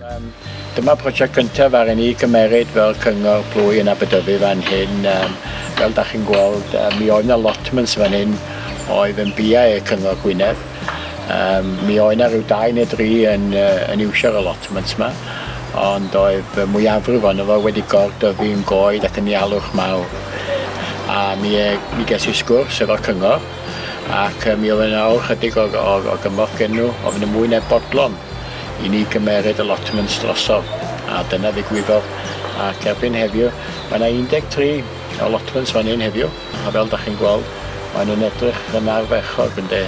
Um, dyma prosiect gyntaf ar i ni gymeryd fel cyngor plwy yn Aberdyfi fan hyn. Um, fel da chi'n gweld, um, mi oedd yna lotments fan hyn oedd yn bia e cyngor Gwynedd. Um, mi oedd yna rhyw dau neu dri yn, uh, yn iwsio'r allotments yma, ond oedd y mwyafrif ond efo wedi gordyfu yn goed ac yn ialwch mawr. A mi, e, mi ges i sgwrs efo'r cyngor, ac mi oedd yna awr chydig o, o, o gymorth gen nhw, oedd yna mwy na bodlon i ni gymeryd y lotments drosodd, a dyna ddigwyddodd. Ac erbyn heddiw, mae yna 13 o lotments fan hyn heddiw, a fel da chi'n gweld, maen nhw'n edrych yn ardderchog, ynde.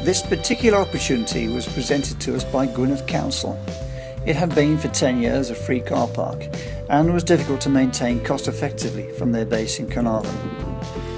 This particular opportunity was presented to us by Gwynedd Council. It had been for 10 years a free car park and was difficult to maintain cost effectively from their base in Carnarvon.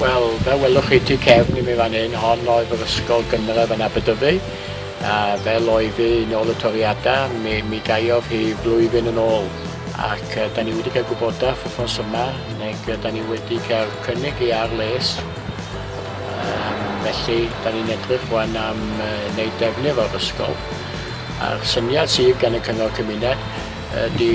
Wel, fel welwch chi tu cefn i mi fan hyn, hon oedd yr ysgol gynradd yn Aberdyfi, a fel oedd hi yn ôl y toriadau, mi, mi gaeodd hi flwyddyn yn ôl. Ac uh, da ni wedi cael gwybodaeth wythnos yma, neu da ni wedi cael cynnig i ar les. Um, felly, da ni'n edrych wan am uh, wneud defnydd o'r ysgol. A'r syniad sydd gan y Cyngor Cymuned ydy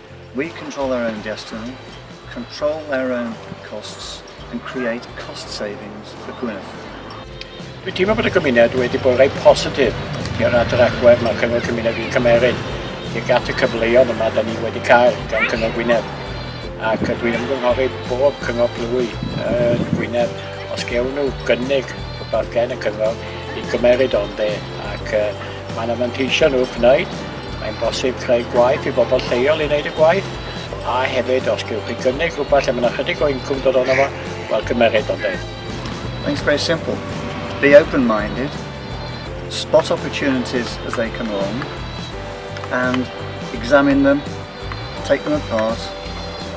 We control our own destiny, control our own costs and create cost savings for Gwynedd. Dwi'n teimlo bod y gymuned wedi bod rhaid positif i'r adr agwedd mae'r cyngor cymuned wedi cymeryd tuag at y cyfleoedd yma da ni wedi cael gan cyngor Gwynedd ac dwi'n ymgynghori bob cyngor plwy yn Gwynedd os gewn nhw gynnig rhywbeth gen y cyngor i gymeryd o'n dde ac uh, mae'n amanteisio nhw gwneud Mae'n bosib creu gwaith i bobl lleol i wneud y gwaith, a hefyd os gewch chi gynnig rhywbeth lle mae yna chydig o incwm dod ono fo, wel cymeryd o'n dweud. It's very simple. Be open-minded, spot opportunities as they come along, and examine them, take them apart,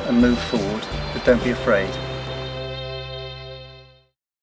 and move forward, but don't be afraid.